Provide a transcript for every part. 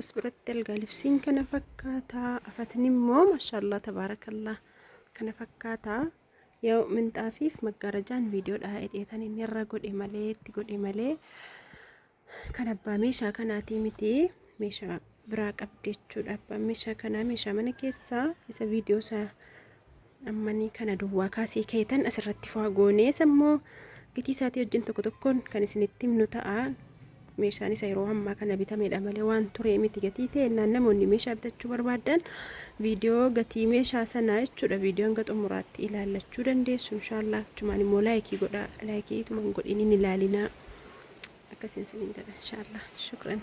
as biratti algaa libsiin kana fakkaata afatni immoo maashaallah tabaarakallah kana fakkaata yoo minxaafiif maggaarajaan viidiyoodha hidheetan inni irra godhe malee itti godhe malee kan abbaa meeshaa kanaatii miti meeshaa biraa qabdi jechuudha abbaan meeshaa kanaa meeshaa mana keessaa isa viidiyoo isaa Ammanii kana duwwaa kaasii keetan asirratti faa goonee sammoo gitii isaatii wajjin tokko tokkoon kan isinitti himnu ta'a. Meeshaan isa yeroo ammaa kana bitamedha malee waan turee miti gatii ta'e naan namoonni meeshaa bitachuu barbaadan viidiyoo gatii meeshaa sanaa jechuudha viidiyoo hanga xumuraatti ilaallachuu dandeessu inshaallah achumaan immoo laayikii godhaa laayikii ituman godhiniin ilaalinaa akkasiin siniin jedha inshaallah shukran.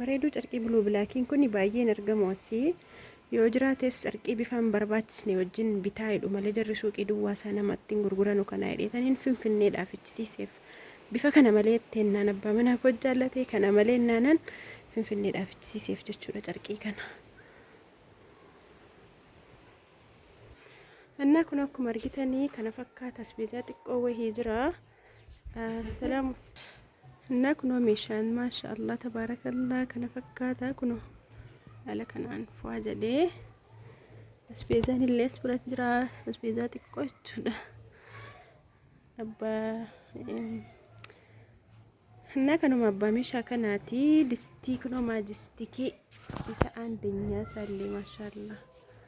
bareeduu carqii buluu bilaakiin kun baay'een argamu asii yoo jiraates carqii bifaan barbaachisne wajjin bitaa jedhu malee jarri suuqii duwwaa isaa namatti hin gurguranu kana hidheetaniin finfinneedhaa fichisiiseef bifa kana malee teennaan abbaa manaa koo jaallatee kana malee naanan finfinneedhaa fichisiiseef jechuudha carqii kana. Annaa kun akkuma argitanii kana fakkaata asbeezaa xiqqoo wahii jira. Assalamu Innaa kunoo meeshaan maasha Allah tabaarakallaa kana fakkaata kunoo haala kanaan fu'aa jedhee asbeezaan illee as biratti jira asbeezaa xiqqoo jechuudha abbaa innaa kanuma abbaa meeshaa kanaati distii kunoo maajistikii isa aandenyaa isaallee maasha Allah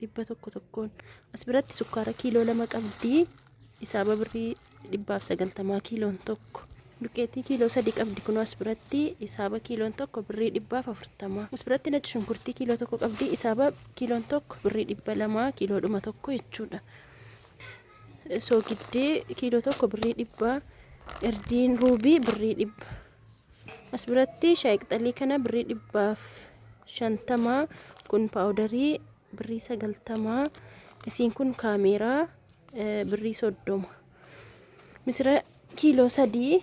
dhibba tokko tokkoon as biratti sukkaara kiiloo lama qabdi isaa babirrii dhibbaaf sagaltamaa kiiloon tokko duqeetii kiiloo sadii qabdi kunoo as biratti isaaba kiiloon tokko birrii dhibbaaf afurtamaa as biratti nacci shunkurtii kiiloo tokko qabdi isaaba kiiloon tokko birrii dhibba lamaa kiiloo dhuma tokko jechuudha soogiddee kiiloo tokko birrii dhibbaa erdiin ruubii birrii dhibba As biratti shaayi qixalii kana birrii dhibbaaf shantamaa kun paawudarii birrii sagaltamaa isiin kun kaameeraa birrii soddoma misira kiiloo sadii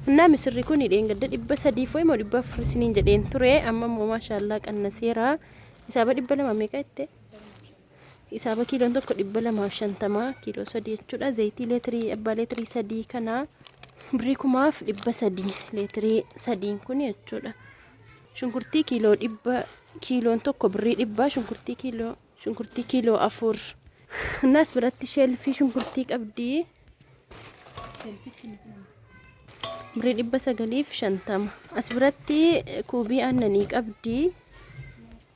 Innaa misirri kun dheengadda dhibba sadii fo'e moo dhibba afur isiniin jedheen ture amma immoo maashaallaa qannaseera isaaba dhibba lama meeqa jette Hisaaba kiiloon tokko dhibba lamaa fi shantama kiiloo sadii jechuudha. Zayitii leetirii abbaa leetirii sadii kana birrii kumaaf dhibba sadii leetirii sadiin kun jechuudha. Shunkurtii kiiloo dhibba kiiloon tokko birrii dhibba shunkurtii kiiloo shunkurtii kiiloo afur. Innaas biratti sheelfii shunkurtii qabdi. Birrii dhibba sagaliif shantama. As biratti kuubii aannanii qabdi.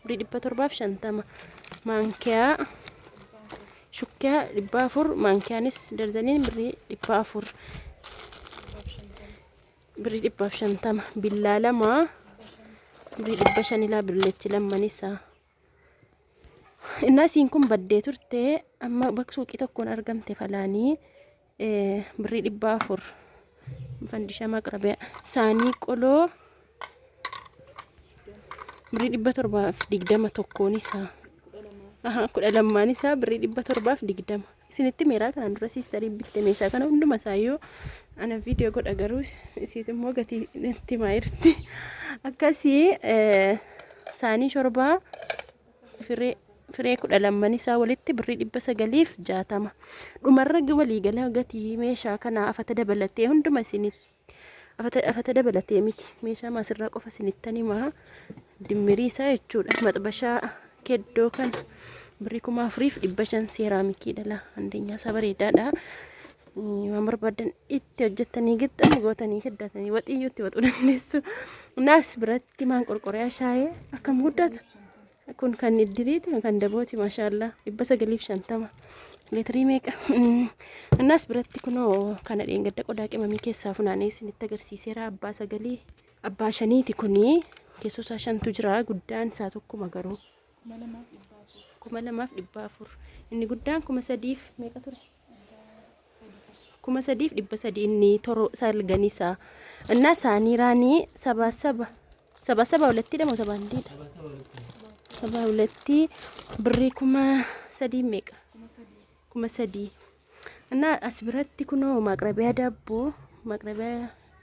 Birrii dhibba torbaaf shantama. Maankiyaa shukkiyaa dhibba afur. Maankiyaanis darzaniin birrii dhibba afur. Birrii dhibbaaf shantama. Billaa lama. Birrii dhibba shanilaa billeechi lammanisaa. Innaa isiin kun baddee turte amma bakka suuqii tokkoon argamte falaanii. Birrii dhibba afur. Fandishaa maqrabiyaa. Saanii qoloo. Birrii dhibba torbaaf digdama tokkoon isaa. Aha, kudha lammaan isaa birrii dhibba torbaaf digdama. Isinitti meeraa kanaan dura siistarii bitte meeshaa kana hunduma isaa yoo ana viidiyoo godha garuu isiit immoo gatii itti maayirti. Akkasii saanii shorbaa Firee, firee kudha lamman isaa walitti birrii dhibba sagaliif jaatama. Dhumarra waliigala gatii meeshaa kanaa afata dabalatee hunduma isinitti afata, afata dabalatee miti meeshaa maasirraa qofa isinittan himaa dimmirii isaa jechuudha. Maxbashaa keddoo kan birrii kuma afuriif dhibba shan seeraamikii dhala andeenyaa isaa bareedaadha. Waan barbaadan itti hojjettanii gixxan gootanii shiddatanii waxiyyuu itti waxuu dandeessu. Naas biratti Timaan qorqoreyaa shaayee akkam guddata. Kun kan iddiliiti kan dabooti maashaallaa dhibba sagaliif shantama leetirii meeqa. Innaas biratti kunoo kana dheengadda qodaa qimamii keessaa funaanee isinitti agarsiiseera abbaa sagalii abbaa shaniiti kunii keessoo isaa shantu jira guddaan isaa tokkuma garuu. Kuma lamaaf dhibba afur. Inni guddaan kuma sadiif meeqa ture? kuma sadiif dhibba sadii inni toro salganii isaa innaa isaanii raanii sabaa saba sabaa saba walattii dhamo sabaa hindiidha sabaa walattii birrii kuma sadii meeqa kuma sadii innaa as biratti kunoo maaqrabiyaa daabboo maaqrabiyaa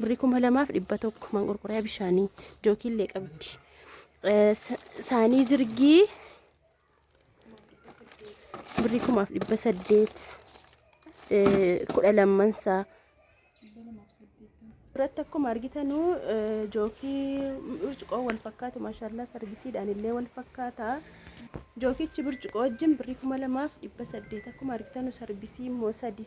birrii kuma lamaaf dhibba tokko manqorqoriyaa bishaanii jookiillee qabdi. Eh, sa- Saanii zirgii birrii kumaaf dhibba saddeet eh, kudha lamman isaa. Irratti akkuma argitanu eh, jookii burcuqoo wal fakkaatu maashaallah sargisiidhaan illee wal fakkaata. Jookichi burcuqoo wajjin birrii kuma lamaaf dhibba saddeet akkuma argitanu sarbisii immoo sadii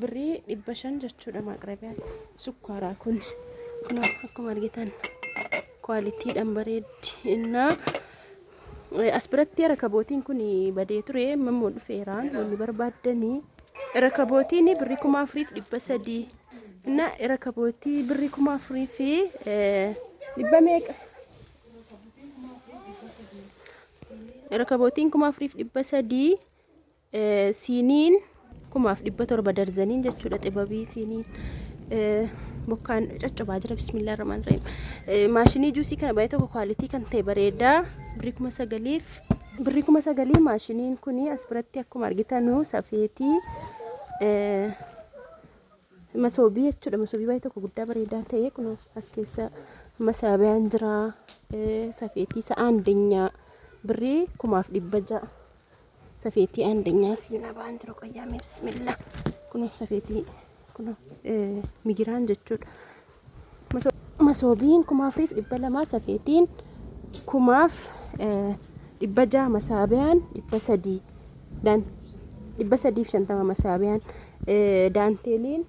birrii dhibba shan jechuudha maaqrabiyaan sukkaaraa kun kun akkuma argitan kwaalitiidhaan bareeddi innaa as biratti rakabootiin kun badee ture mammoo dhufeeraan wanni barbaaddanii rakabootiin birrii kuma afuriif dhibba sadii inna rakabootii birrii kuma afurii fi dhibba meeqa rakabootiin kuma afuriif dhibba sadii Siiniin kumaaf dhibba torba darzaniin jechuudha xibabii siiniin. Bokkaan coccobaa jira bismillah rahmaan rahim. Maashinii juusii kana baay'ee tokko kwaalitii kan ta'e bareedaa birrii kuma sagaliif. Birrii kuma sagalii maashiniin kun as biratti akkuma argitanu safeetii masoobii jechuudha. Masoobii baay'ee tokko guddaa bareedaa ta'e kun as keessa masaabiyaan jira. Safeetii sa'aan dinyaa birrii kumaaf dhibba ja'a. Safeetii andanyaa siinaa ba'an jiru qayyaamee bismillah. Kunoo safeetii kunoo migiraan jechuudha. Masoobiin kumaaf riif dhibba lamaa safeetiin kumaaf dhibba jaha masaabiyaan dhibba sadii daan dhibba sadiif shantama masaabiyaan daanteeliin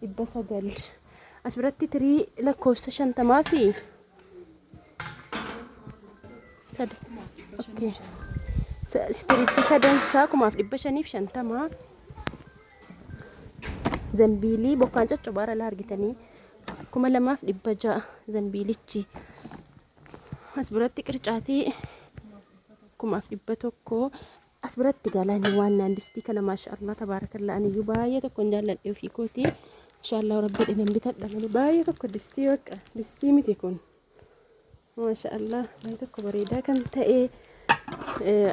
dhibba sagal as biratti tirii lakkoofsa shantamaa fi Sad- okay. Sa- Istirichi sadan isaa kumaaf dhibba shaniif shantama. Zambiilii bokkaan coccobaa irra argitanii kuma lamaaf dhibba ja'a zambiilichi. As biratti qircaatii kumaaf dhibba tokko As biratti galaanii waan naan distii kana maashaallah tabaarakallaa aniyyuu baay'ee tokkon jaalladhe ofii kootii. Maashaallah rabbi dhinan bitadha malee baay'ee tokko distii bakka distii miti kun. Maashaallah baay'ee tokko bareedaa kan ta'e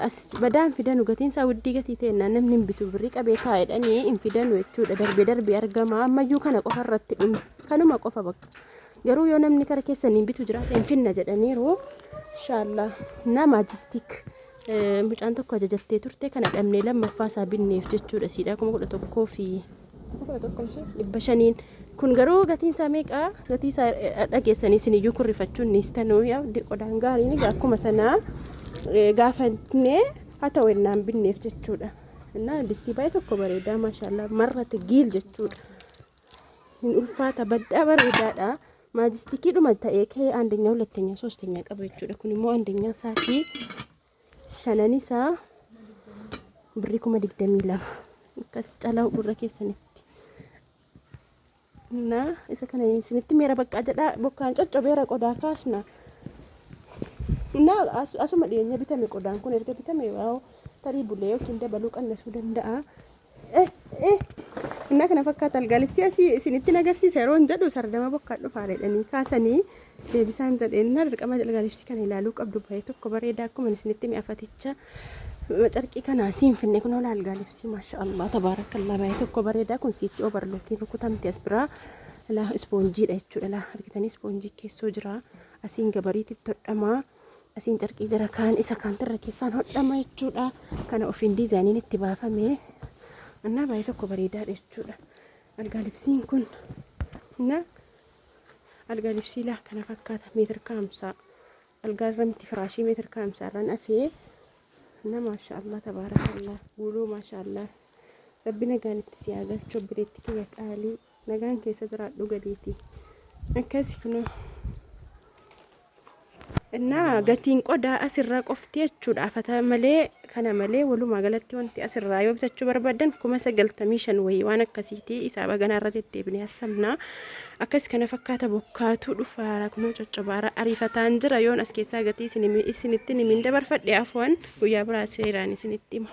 as badaan fidanu gatiin isaa widdii gatii ta'e namni hin bitu birrii qabee taa'edhanii hin fidanu jechuudha darbee darbee argama ammayyuu kana qofa irratti kanuma qofa bakka. Garuu yoo namni kara keessa niin bitu jiraate hin finna jedhaniiru. Inshaallaa nama jistik mucaan tokko ajajattee turte kana dhabnee lammaffaa isaa binneef jechuudha siidhaa kuma kudha tokkoo fi dhibba shaniin. Kun garuu gatiin isaa meeqa? Gatii isaa dhageessanii isin iyyuu kurrifachuun ni istanuu qodaan gaariin akkuma sanaa gaafannee haa ta'u ennaan binneef jechuudha. Innaa distii baay'ee tokko bareedaa maashaallah marrate giil jechuudha. hin ulfaata baddaa bareedaadha maajistikiidhuma ta'ee kee andeenya hulatteenya soosteenya qaba jechuudha kun immoo andeenya isaatii shanan isaa birrii kuma digdamii lama akkas calaa gurra keessanitti na isa kana isinitti meera baqqaa jedhaa bokkaan coccobeera qodaa kaasna na asuma dhiyeenya bitame qodaan kun erga bitame waa'oo tarii bulee yookiin dabaluu qannasuu danda'a Innaa kana fakkaata algaalibsii asii isinittiin agarsiisa yeroon jedhu sardama bokkaa dhufaa jedhanii kaasanii deebisaan jedheen innaa dirqama algaalibsii kana ilaaluu qabdu bahee tokko bareedaa akkuma isinitti mi'afaticha carqii kana siin finne kun hola algaalibsii maasha Allah tabaarakallaa bahee tokko bareedaa kun siichi obarlookiin rukutamte as biraa ilaa ispoonjiidha jechuudha ilaa argitanii ispoonjii keessoo jira asiin gabariitti todhamaa Asiin carqii jira kaan isa kaantirra keessaan hodhama jechuudha. Kana ofiin diizaayiniin itti baafame. Annaa baay'ee tokko bareedaadha jechuudha. Algaa libsiin kun na algaa libsii laa kana fakkaata meetir kaamsaa. Algaa irra miti firaashii meetir kaamsaa irraan afee. Na maashaallah tabaarakallah guuluu maashaallah. Rabbi nagaan itti si haa galchu obboleetti kiyya qaalii. Nagaan keessa jiraadhu gadiiti. Akkasi kunoo. Innaa gatiin qodaa asirraa qofti jechuudha. Fata malee kana malee walumaa galatti wanti asirraa yoo bitachuu barbaadan kuma sagaltamii shan wayii waan akkasiiti isaa baganaa irra deddeebinee hassamnaa. Akkas kana fakkaata bokkaatu dhufaara kunoo coccobaara ariifataan jira yoon as keessaa gatii isin- isinittin himiin dabarfadhe afoon guyyaa biraa seeraan isinitti hima.